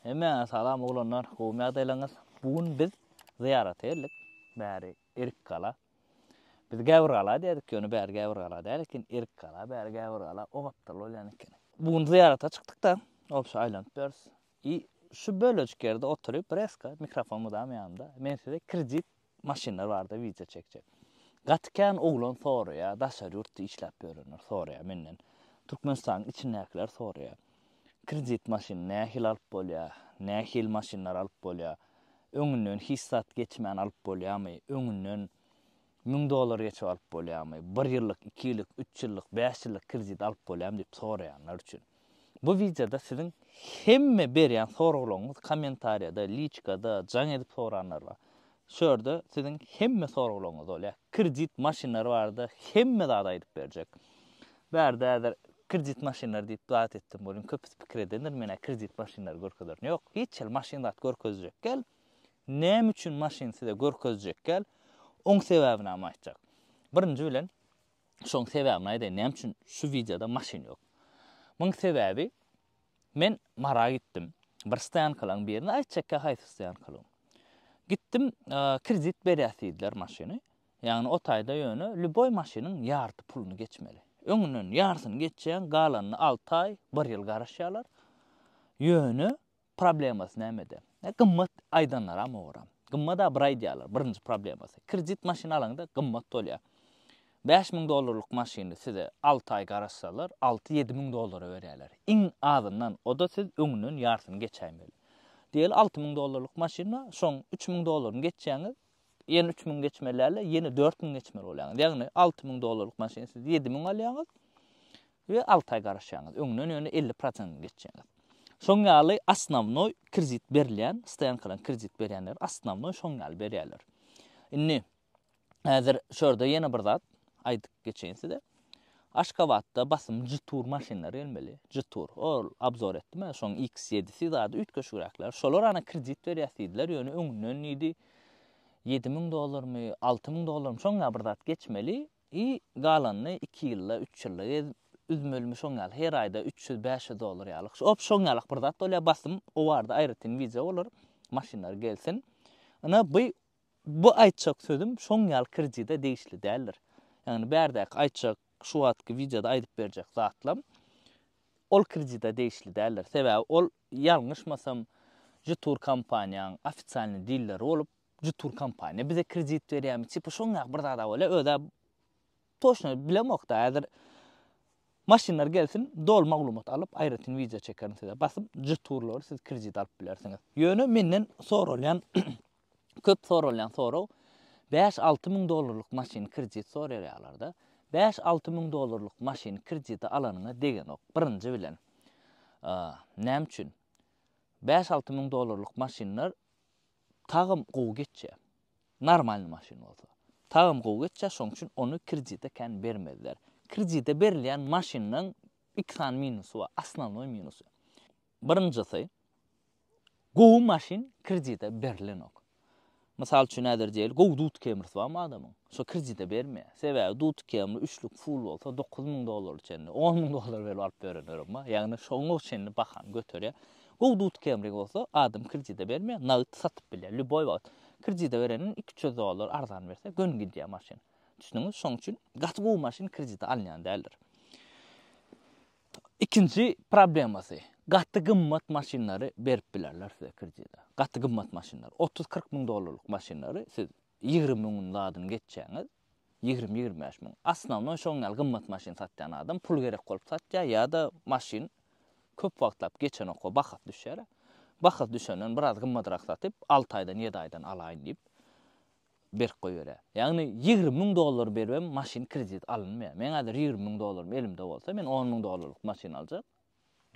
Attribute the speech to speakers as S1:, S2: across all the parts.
S1: Hemmäňize salam oglanlar, gowumy ýagdaýlaryňyz? Bu gün biz zyýarata geldik, bäri Erikgala. Biz Gäwürgala diýerdik, ýöne bäri Gäwürgala däl eken, Erikgala, bäri Gäwürgala o gapdal bolýan ekeni. Bu gün zyýarata çykdyk-da, obşa aýlanyp ýörüs. I şu bölejik ýerde oturyp, reska, mikrofon mydama ýanymda, men size kredit Maşynlar barada wideo çekjek. Gaty kän oglan soraýar, daşary ýurtda işläp ýörenler soraýar menden. Türkmenistanyň içindäkiler soraýar. Kredit maşyn nähili alyp bolýar? Nähili maşynlar alyp bolýar? Öňünden hiç zat geçmän alyp bolýarmy? Öňünden müň dollar geçip alyp bolýarmy? Bir ýyllyk, iki ýyllyk, üç ýyllyk, bäş ýyllyk kredit alyp bolýarmy diýip soraýanlar üçin. Bu wideoda siziň hemme berýän soraglaryňyz kommentariýada, liçkada, jaň edip soranlar bar. Şu ýerde siziň hemme soraglaryňyz bolýar. Kredit maşynlary barada hemme zady aýdyp berjek. Bärde häzir kredit maşynlary diýip zat etdim welin köpüsi pikir edendir menä kredit maşynlary görkezerin. Ýok, hiç hili maşyn zat görkezjek däl. Näme üçin maşyn size görkezjek däl, oň sebäbini hem aýtjak. Birinji bilen Şoň sebäbini aýdaýyn näme üçin şu wideoda maşyn ýok. Muň sebäbi men Mara gitdim. Bir stoýankalaň birine aýtjakka haýsy stoýankalygyň. Gitdim kredit berýäs diýdiler maşyny. Ýagny o taýda ýöne lýuboý maşynyň ýarty puluny geçmeli. Öňünden ýartyny geçýäň galanyny alty aý, bir ýyl garaşýarlar. Ýöne Problemasy nämede? E, gymmat aýdanlaram owaram. Gymmat-a bir aýdýarlar, birinji problemasy. Kredit maşyn alaňda gymmat bolýar. 5000 dollarlyk maşyny size 6 aý garaşsalar, 6-7 müň dollara berýärler. Iň azyndan, o-da siz öňünden ýarsyny geçäýmeli. Diýeli 6 müň dollarlyk maşyn bar, şoň 3 müň dollaryny geçýäňiz, ýene 3 müň geçmeli däl-de, ýene 4 müň geçmeli bolýaňyz. Ýagny 6 müň dollarlyk maşyny siz 7 müň alýaňyz, we alty aý garaşýaňyz, öňden ýöne elli prosentini geçýäňiz. Şoň ýaly osnownoý kredit berilýän, stoýankadan kredit berýänler osnownoý şoň ýaly berýärler. Indi häzir şu ýerde ýene bir zat aýdyp geçeýin size. Aşgabatda basym Jetour maşynlary gelmeli. Jetour. Ol obzor etdim men şoň X7-si zady üýtgeşigräkler. Şolar ana kredit berýär diýdiler, ýöne öňünden diýdi 7000 dollarmy, 6000 dollarmy şoň ýaly bir zat geçmeli. I galanyny iki ýylda, üç ýylda gezip üzmelimi şoň ýaly her aýda üç ýüz, bäş ýüz dollar ýaly. Op şoň ýaly bir zat bolýar basym o barada aýratyn wideo bolar maşynlar gelsin. Ina by bu aýtjak sözüm şoň ýaly kredide degişli däldir. Ýagny bärdäki aýtjak şu wagtky wideoda aýdyp berjek zatlam ol kredide degişli däldir. Sebäbi ol ýalňyşmasam jtur kompaniýaň ofisialny dilleri bolup Şu turkompaniýa bize kredit berýärmi, tipa şoň ýaly bir zad-a bolýar. Öz-ä toçna bilemok-da, häzir maşynlar gelsin, doly maglumat alyp, aýratyn wideo çekerin size. Basyp, şu turlary siz kredit alyp bilersiňiz. Ýöne menden soralýan, köp soralýan sorag, bäş-alty müň dollarlyk maşyny kredit soraýarlar-da. Bäş-alty müň dollarlyk maşyny kredite alanyňa degenok, birinji bilen. Näme üçin? Bäş-alty müň dollarlyk maşynlar Tagam gowy geçýä. Normalny maşyn bolsa. Tagam gowy geçýä şoň üçin ony kredite kän bermezler. Kredite berilýän maşynlaň iki sany minusy bar, osnovnoý minusy. Birinjisi gowy maşyn kredite berilenok. Mysal üçin häzir diýeli gowy dud kemrisi barmy adamyň? Şo kredite bermeýä. Sebäbi dud kemri üçlük full bolsa dokuz müň dollara çenli, on müň dollara beri alyp berenlerem bar. Ýagny şoňa çenli bahany göterýä. Gowy dut kemri bolsa adam kredide bermeýär, nagt satyp bilýär, lýuboý wagt. Kredide bereniň iki üç ýüz dollar arzan berse göni gidýär maşyn. Düşdüňiz? Şoň üçin gaty gowy maşyn kredide alynýan däldir. Ikinji problemasy, gaty gymmat maşynlary berip bilerler size kredide. Gaty gymmat maşynlar, otuz kyrk müň dollarlyk maşynlary siz Ýigrimi müňüň zadyny geçýäňiz, ýigrimi-ýigrimi bäş müň. Osnownoý şoň ýaly gymmat maşyn satýan adam pul gerek bolup satýar ýa-da maşyn köp wagtlap geçenok we bahasy düşýär. Bahasy düşenden biraz gymmadrak satyp, alty aýdan, ýedi aýdan alaýyn diýip, berk goýberýär. Ýagny ýigrimi müň dollar berip hem maşyn kredit alynmaýar. Meň häzir ýigrimi müň dollarym elimde bolsa, men on müň dollarlyk maşyn aljak.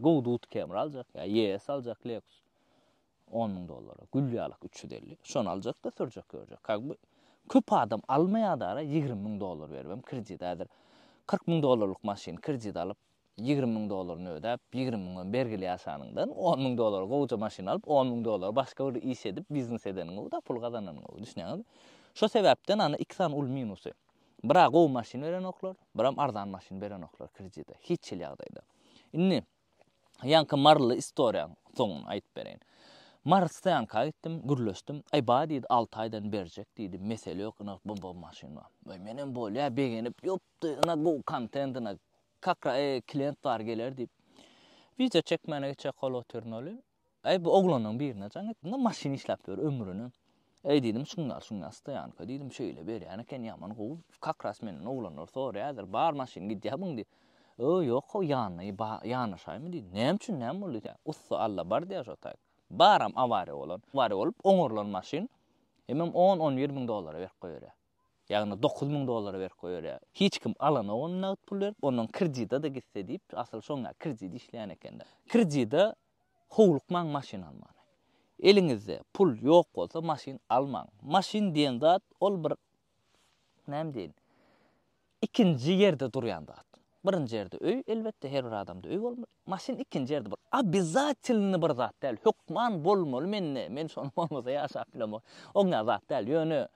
S1: Gow Dut Camry aljak ýa ES aljak Lexus. On müň dollara gül ýalyk üç ýüz elli şony aljakda sürjek görjek kag bu köp adam almaýadara ýigrimi müň dollar beribem kredit häzir kyrk müň dollarlyk maşyny kredit alyp ýigrimi müň dollaryny ödäp ýigrimi müňem bergili ýaşanyňdan on müň dollara gowja maşyn alyp on müň dollara başga bir iş edip biznes edeniň gowy da pul gazananyň gowy düşünýäňizmi şo sebäpden ana iki sany uly minusy bira gowy maşyn berenoklar biram arzan maşyn berenoklar kredite hiç hil ýagdaýda indi Ýaňky maryly istoriýaň soňuny aýdyp bereýin. Mary stoýanka gitdim, gürleşdim. Aý ba diýdi, alty aýdan berjek diýdi, mesele ýok, ynha bum bum maşyn bar. Aý menem bolýa begenip, ýupdy, ynha gowy kontent ynha. Kakra e, klient bar geler diýip. Wideo çekmäne geçýä kolo turnoli. Eý, bu oglanyň birine jaň etdiň-a, maşyn işläp ýör ömrüne. Eý, diýdim, şuňňar, şuňňar stoýanka, diýdim, şeýle berýän eken, ýaman gowy. Kakras menden oglanlar soraýardyr, bar maşyn gidýärmiň diýip. Ýo, ýok-how, ýanyna ba, ýanaşaýmy diýdim. Näme üçin, näme boldy diýýä. Ussa Alla bar diýýä şo taýy. Baram, awariýa bolan. Awariýa bolup, oňarylan maşyn hemem on-on bir müň dollara berip goýberýär. Ýagny dokuz müň dollara berip goýberýär. Hiç kim alanok ony nagt pul berip, ondan kredida-da gitse diýip, asyl şoňa kredit işleýän eken-de. Kredida howlukmaň maşyn almana. Eliňizde pul ýok bolsa maşyn almaň. Maşyn diýen zat ol bir näme diýin, Ikinji ýerde durýan zat. Birinji ýerde öý, elbetde, her bir adamda öý bolmaly. Maşyn ikinji ýerde bir obezatilny bir zat däl, hökman bolmaly mende, men şony bolmasa ýaşap bilemok. Oňňa zat däl, ýöne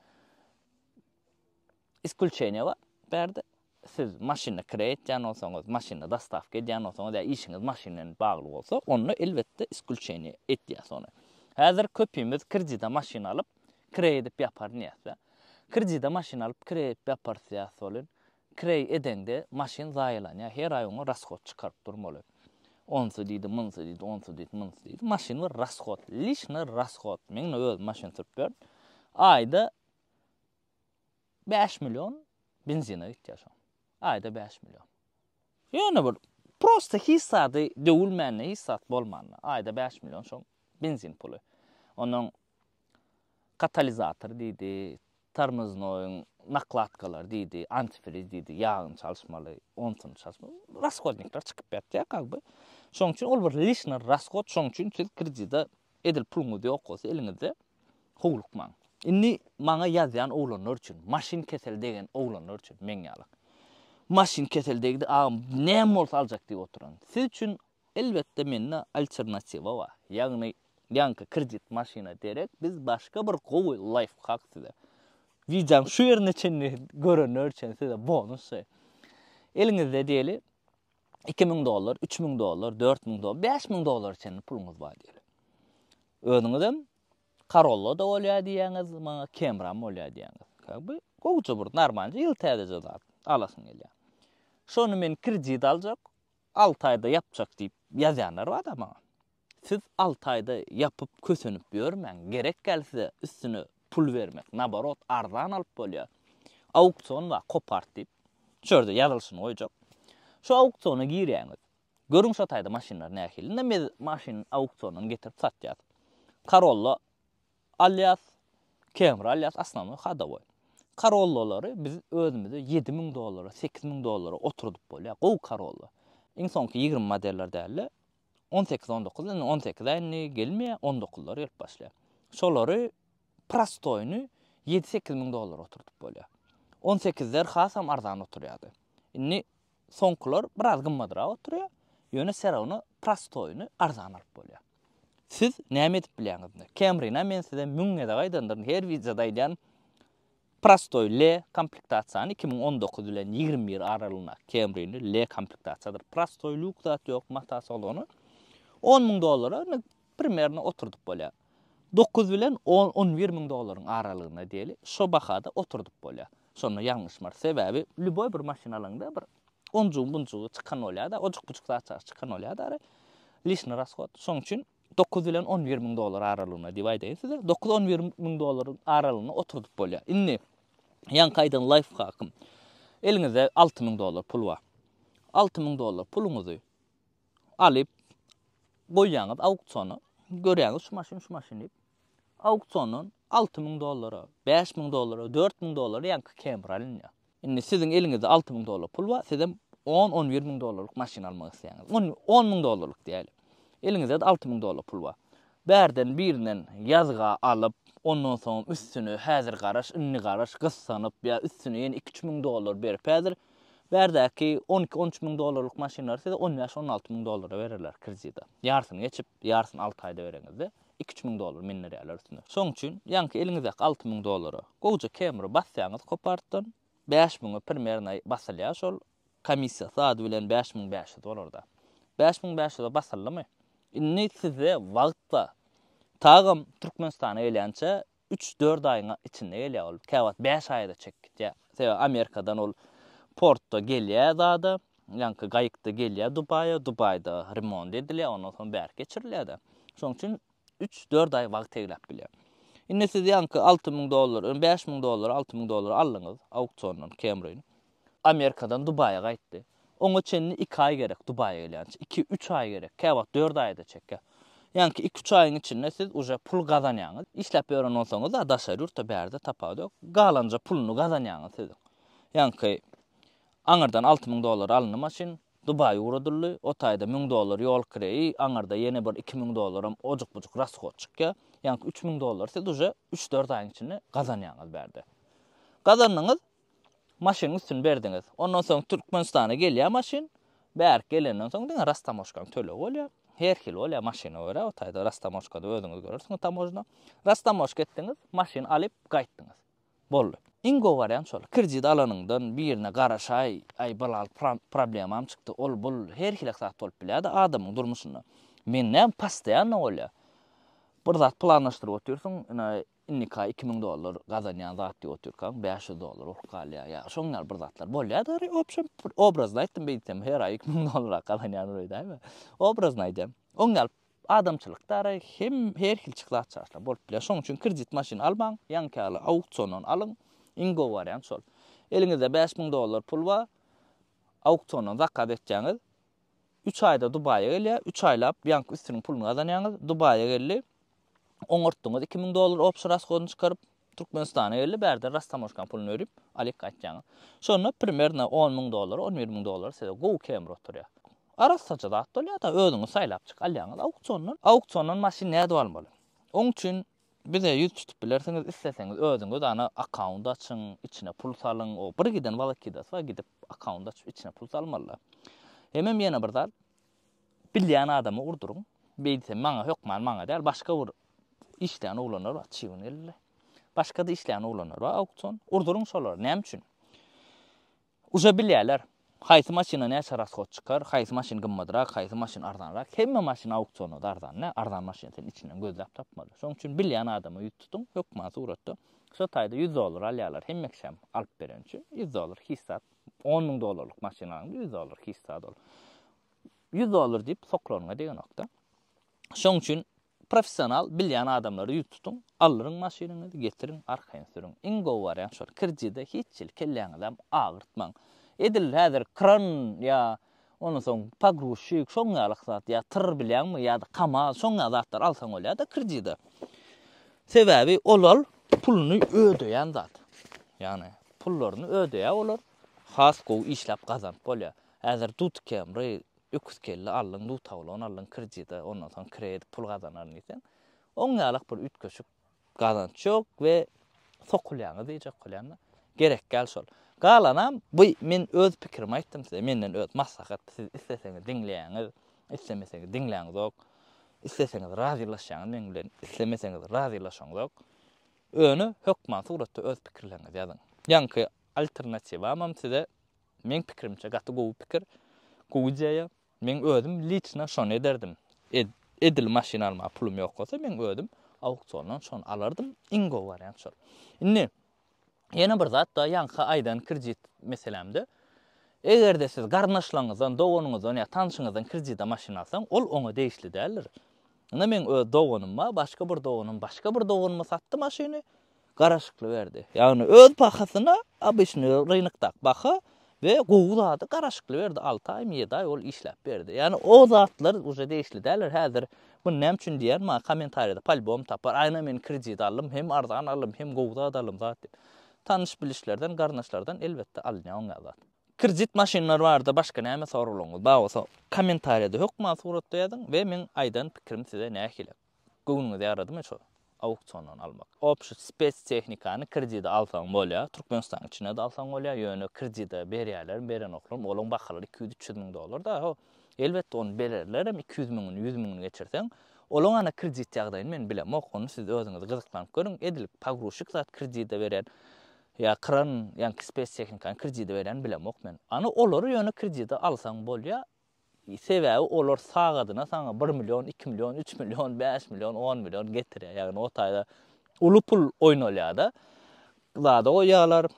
S1: iskulçeniýe bar. Bärde siz maşyny kire etýän bolsaňyz, maşyny dostawka edýän bolsaňyz ýa işiňiz maşyn bilen bagly bolsa, onda elbetde iskulçeniýe etýäs ony. Häzir köpimiz kredite maşyn alyp, Kireý edip ýapar diýýäs-de. Kredide maşyn alyp kireý edip ýaparys diýýäs welin, kireý edeňde maşyn zaýalanýar. Her aý oňa rashod çykaryp durmaly. Onsy diýdi, munsy diýdi, onsy diýdi, munsy diýdi. Maşyn bir rashod, lişnä rashod. Men indi özüm maşyn sürüp ýörün. Aýda bäş million benzine gitýär şoň. Aýda bäş million. Ýöne bir prosta hiç zady döwülmände, hiç zat bolmanda, aýda bäş million şoň benzin puly. Onuň Katalizator diýdi, tormoznoýyň nakladkalary diýdi, antifriz diýdi, ýagyny çalyşmaly, onsuny çalyşmaly. Rashodnikler çykyp ýatýar как бы. Şonuň üçin ol bir lişnir rashod, şonuň üçin siz kredide edil puluňyz ýok bolsa eliňizde howlukmaň. Indi maňa ýazýan oglanlar üçin, maşyn keseli degen oglanlar üçin meň ýaly. Maşyn keseli degdi agam näme bolsa aljak diýip oturan. Siz üçin Elbetde mende alternatiwa bar. Ýagny ýaňky kredit maşyna derek biz başga bir gowy laýfhak size. Wideoň şu ýerine çenli görenler üçin size bonus. Eliňizde diýeli iki müň dollar, üç müň dollar, dört müň dollar, bäş müň dollara çenli puluňyz bar diýeli. Özüňizem Corolla-da bolýar diýýäňiz, maňa Camry-am bolýar diýýäňiz. Ka bu gowja bir normalja ýyl täzeje zat alasyň gelýär. Şony men kredit aljak, Alty aýda ýapjak diýip ýazýanlar bada maňa. Siz alty aýda ýapyp kösenip ýörmäň, gerek gelse üstüne pul bermek, naborot arzan alyp bolýa. Auksion bar kopart diýip, şu ýerde ýazylyşyny goýjak. Şu auksiona girýäňiz. Görüň şo taýda maşynlar nähili. Indi biz maşyny auksiondan getirip satýas. Karolla Alýas, Kemri alýas Asnamoý hadowoý. Karollolary biz özümize ýedi müň dollara, sekiz müň dollara oturdyp bolýar. Gowy karolla. Iň soňky ýigrimi modeller dälde, on sekiz, on dokuz, indi on sekiz-ä indi gelmeýär, on dokuzlar gelip başlaýar. Şolary prostoýyny ýedi-sekiz müň dollara oturdyp bolýar. On sekizler hasam arzan oturýardy. Indi soňkular biraz gymmadrak oturýar, ýöne serowna prostoýyny arzan alyp bolýar. Siz näme edip bilýäňiz indi? Camry-na men size müň gezek aýdandyryn, her wideoda aýdýan, prostoý L komplektasiýany iki müň on dokuz bilen ýigrimi bir aralygynda Camry-ni L komplektasiýadyr, prostoý lýuks zat ýok, mata salony on müň dollara indi primerno oturdyp bolýar. Dokuz bilen on, on bir müň dollaryň aralygynda diýeli, şo bahada oturdyp bolýar. Şonda ýalňyşym bar. Sebäbi lýuboý bir maşyn alaňda bir onjugy-bunjugy çykan bolýar-da, ojuk-bujuk zatjagaz çykan bolýar-da ara. Lişni rashod. Şoň üçin dokuz bilen on bir müň dollar aralygynda diýip aýdaýyn size. Dokuz-on bir müň dollaryň aralygynda oturdyp bolýar. Indi ýaňky aýdan laýfhakym. Eliňizde alty müň dollar pul bar. Alty müň dollar puluňyzy alyp goýýaňyz auksiona. Görýäňiz şu maşyn, şu maşyn diýip. Auksiondan Alty müň dollara, bäş müň dollara, dört müň dollara ýaňky Camry alynýar. Indi siziň eliňizde alty müň dollar pul bar, sizem on-on bir müň dollarlyk maşyn almak isleýäňiz. On, on müň dollarlyk diýäýeli. Eliňizde-de alty müň dollar pul bar. Bärden birinden ýazga alyp, ondan soňam üstüne häzir garaş, indi garaş, gyssanyp ýa üstüne ýene iki-üç müň dollar berip häzir bärdäki on iki-on üç müň dollarlyk maşynlary size on bäş-on alty müň dollara bererler kredita. Ýarsyny geçip, ýarsyny alty aýda bereňizde. Iki-üç müň dollar mendirýärler üstüne. Şoň üçin, ýaňky eliňizdäki alty müň dollara gowja kemri basýaňyz kopartdan, bäş müňe primerna basylýar şol, komissiýasy ady bilen bäş müň bäş ýüz bolar-da. Bäş müň bäş ýüze basyldymy, indi sizde wagt bar. Tagam Türkmenistana gelýänçä Üç-dört aýyň içinde gelýär ol. Käwagt bäş aýa-da çekip gidýär. Sebäbi Amerikadan ol portda gelýär zada, ýaňky gaýykda gelýär Dubaýa, Dubaýda remont edilýär, ondan soň bärik geçirilýär-de. Şonuň üçin üç-dört aý wagt egläp bilýär. Indi siz ýaňky alty müň dollar, bäş müň dollara alty müň dollara aldyňyz auksiondan Camry-ny. Amerikadan Dubaýa gaýtdy. Oňa çenli iki aý gerek Dubaýa gelýänçä. Iki, üç aý gerek. Käwagt dört aýa-da çekýär. Ýaňky iki-üç aýyň içinde siz uje pul gazanýaňyz. Işläp ýören bolsaňyz-a daşary ýurtda bärde tapawut ýok. Galanja puluny gazanýaňyz siziň. Ýaňky aňyrdan alty müň dollara alyndy maşyn. Dubaý ugradyldy. O taýda müň dollar ýol kireýi, aňyrda ýene bir iki müň dollaram ojuk-bujuk rashod çykýar. Ýaňky üç müň dollary siz uje üç-dört aýyň içinde gazanýaňyz bärde. Gazandyňyz. Maşynyň üstüni berdiňiz. Ondan soň Türkmenistana gelýär maşyn. Bärik gelenden soň diňe rastamoşkanyň tölegi bolýar. Her hili bolýar maşyna görä. O taýda rastamoşkada özüňiz görersiňiz tamožna. Rastamoşka etdiňiz, maşyn alyp gaýtdyňyz. Boldy. Iň gowy wariant şol. Kredit alanyňdan birine garaşaý, aý bir-alt problemam çykdy, ol-bul, her hili zat bolup bilýär-de adamyň durmuşynda. Men näme, postoýanno bolýar. Bir zat planlaşdyryp otyrsyň, ine, Indika iki müň dollar gazanýan zat diýip otyrkaň, bäş ýüz dollar urup galýar. Ýa şoň ýaly bir zatlar bolýar da gary, obşem bir obrazny aýtdym beýtsem, her aý iki müň dollar gazanýan bir öýdäýme. Obrazny aýdýan. Oň ýaly adamçylykda gary, hem her hilçik zat çaşlar bolup bilýär. Şoň üçin kredit maşyn almaň, ýaňky ýaly auksiondan alyň. Iň gowy wariant şol. Eliňizde bäş müň dollar pul bar, auksiondan zakaz etýäňiz. Üç aýda Dubaýa gelýär, üç aýlap ýaňky üstüniň puluny gazanýaňyz. Dubaýa geldi. oňartdyňyz iki müň dollar obşy raskodyny çykaryp türkmenistana geldi bärde rastamoşkan puluny berip alyk gaýtýaňyz şonda primerno on müň dollar on bir müň dollar size gowy kemri oturýar arassaja zat bolýada özüňiz saýlap çyk alýaňyz auksiondan auksiondan maşyn nädip almaly oň üçin bize ýüz tutup bilersiňiz isleseňiz özüňiz ana akkaunt açyň içine pul salyň o bir giden walakidasy bar gidip akkaunt açyp içine pul salmalyda hemem ýene bir zat Bilýän adama urduryň. Beýdse maňa hökman maňa däl, başga bir işleýän oglanlar bar, çybyn gelirler. Başga-da işleýän oglanlar bar, auksion. Urduryň şolara, näme üçin? Uje bilýärler. Haýsy maşyna näçe rashod çykar, haýsy maşyn gymmatrak, haýsy maşyn arzanrak. Hemme maşyn auksionda-da arzan däl. Arzan maşyny sen içinden gözläp tapmaly. Şonuň üçin bilýän adama ýüz tutuň, hökman suratda. Şo taýda ýüz dollar alýarlar hemme kişem alyp beren üçin. Ýüz dollar hiç zat. On müň dollarlyk maşyn alyň, ýüz dollar kista dol. Ýüz dollar diýip soklanyňa degenokda. Şoň üçin professional bilýän adamlary ýüz tutuň, aldyryň maşynyňyzy, getiriň, arkaýyn sürüň. Iň gowy wariant şol. Kredide hiç hili kelläňizem agyrtmaň. Edil häzir kran ýa Ondan soň pogruzçik şoň ýaly zat ýa tyr bilýäňmi ýa-da kamaz şoň ýaly zatlar alsaň bolýar-da kredide. Sebäbi olal puluny ödeýän zat. Ýagny pullaryny ödeýär olar. Has gowy işläp gazanyp bolýar. Häzir Dut Camry öküz kelle aldyň, Dut Avalon aldyň kredide, ondan soň kredit pul gazanaryn diýseň, oň ýalak bir üýtgeşik Gazanç ýok we sokulýaňyz diýjek bolýan-da. Gerek däl şol. Galanam bu men öz pikirimi aýtdym size. Menden öz maslahat. Siz isleseňiz diňleýäňiz, islemeseňiz diňläňizok. Isleseňiz razylaşýaňyz meň bilen, islemeseňiz razylaşaňzok. Öne hökman suratda öz pikirleriňizi ýazyň. Ýaňky alternatiwamam size meň pikirimçe gaty gowy pikir, gowy ideýa. Men özüm liçna şony ederdim. Edil maşyn almaga pulum ýok bolsa, men özüm auksiondan şony alardym, iň gowy wariant şol. Indi ýene bir zat da ýaňky aýdan kredit meselämde, eger-de siz garyndaşlaryňyzdan, doganyňyzdan ýa tanşyňyzdan kredite maşyn alsaň, ol oňa degişli däldir. Indi meň öz doganymma, başga bir doganym, başga bir doganyma satdy maşyny. garaşykly berdi. Ýagny öz bahasyna obyçny rynokdaky baha we gowy zady garaşykly berdi. Alty aýmy ýedi aý ol işläp berdi. Ýagny o zatlar uje degişli däldir häzir. Muny näme üçin diýýän maňa kommentariýada polybom tapar. Aýna men kredit aldym hem arzan aldym hem gowy zat aldym zat diýip. Tanyş bilişlerden garyndaşlardan elbetde alynýar oňa zat. Kredit maşynlar barada başga näme soraglaryňyz bar bolsa kommentariýada hökman suratda ýazyň we meň aýdan pikirim size nähili. Göwnüňize ýaradymy şo auksiondan almak? Opşi spes tehnikany kredide alsaň bolýar, Türkmenistanyň içinde-de alsaň bolýar, ýöne kredide berýärlermi, berenoklarmy, olaň bahalary iki ýüz, üç ýüz müň dollar da, ho, elbetde ony bererlerem, iki ýüz müňüni, ýüz müňüni geçirseň. Olaň ana kredit ýagdaýyny men bilemok, ony siz özüňiz gyzyklanyp görüň, edil pogruzçik zat kredide berýän ýa kran, ýaňky spes tehnikany kredide berýäni bilemok men. Ana olary ýöne kredide alsaň bolýar, Sebäbi olar sagadyna saňa bir million, iki million, üç million, bäş million, on million getirýär. Ýagny o taýda uly pul oýnalýar-da. Zada goýýarlar,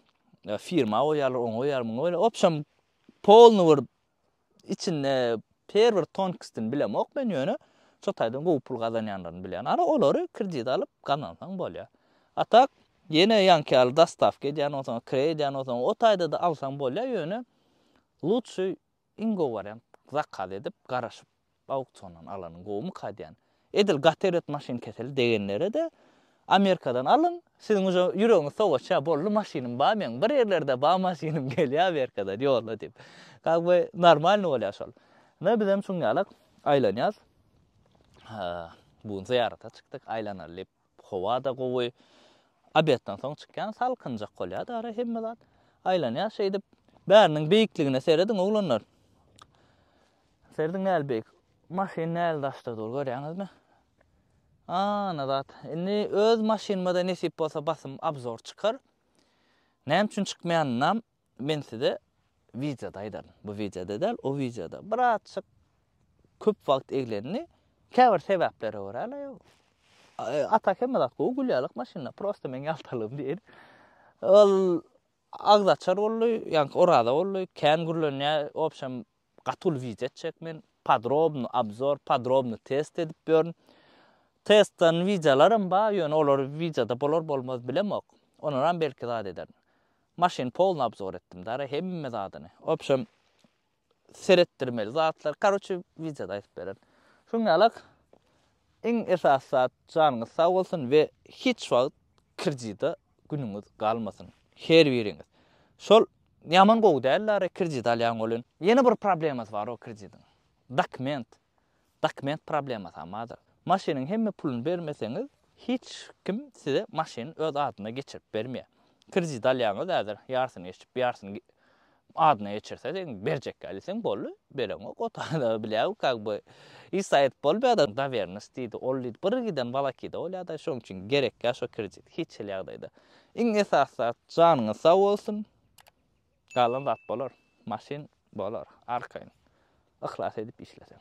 S1: firma goýýarlar, oňa goýýarlar, muňa goýýarlar. Obşem polny bir içinde her bir tonkstini bilemok men ýöne şo taýdan gowy pul gazanýanlaryny bilýän. Ara olary kredit alyp gazansaň bolýar. A tak ýene ýaňky ýaly dostawka edýän bolsaň, kre edýän bolsaň, o taýda-da alsaň bolýar ýöne lutşy Iň gowy wariant zakaz edip garaşyp auksiondan alanyň gowumyka diýän. Edil gatered maşyn keseli degenlerede Amerikadan alyň siziň uje ýüregiňiz sowaçýa boldy maşynym bar meň bir ýerlerde bar maşynym gelýä Amerikadan ýolla diýip. Как бы normalny bolýa şol. Ine bizem şuň ýalak aýlanýas. Bu gün zyýarata çykdyk aýlanaly diýip. Howa-da gowy. Obedden soň çykýan, salkynjak bolýar-da ara, hemme zat. Aýlanýar şeýdip. Bäriniň beýikligine serediň, oglanlar. Serediň nähili beýik. Maşyn nähili daşda dur, görýäňizmi? Ana zat. Indi öz maşynyma-da nesip bolsa basym obzor çykar. Näme üçin çykmaýanynam Men size wideoda aýdaryn, bu wideoda däl, o wideoda birazjyk köp wagt eglendi. Käbir sebäplere görä-le, a tak hemme zat gowy gülýärlik maşynda, prosta meň ýaltalygym diýen. Ol agzaçar boldy, ýaňky oraza boldy, kän gürlenýär, obşem Gaty uly wideo çek men podrobny obzor podrobny test edip ýörün testdan wideolaram bar ýöne olar wideoda bolar bolmaz bilemok onaram belki zat ederin maşyn polny obzor etdim dara hemme zadyny obşem seretdirmeli zatlar karoçe wideoda aýdyp bererin şuňňalak Iň esasy zat janyňyz sag bolsun we hiç wagt krdida günüňiz galmasyn her biriňiz. Şol ýaman gowy däl Lara krdit alýan bolun. Ýene bir problemasy bar o krdidiň. Dokument. Dokument problemasam bardyr. Maşynyň hemme puluny bermeseňiz hiç kim size maşyny öz adyna geçirip bermeýär. Krdit alýaňyz häzir ýarsyny geçip ýarsyny Adyna geçirse seň berjekkä diýseň boldy bereňok otagda bilýäň kak by is aýyt bolmaýada dawernus diýdi ol diýdi bir giden walakida bolýada şoň üçin gerekkä şo kredit hiç hili ýagdaýda iň esasy zat janyňyz sag bolsun galan zat bolar maşyn bolar arkaýyn yhlas edip işleseň.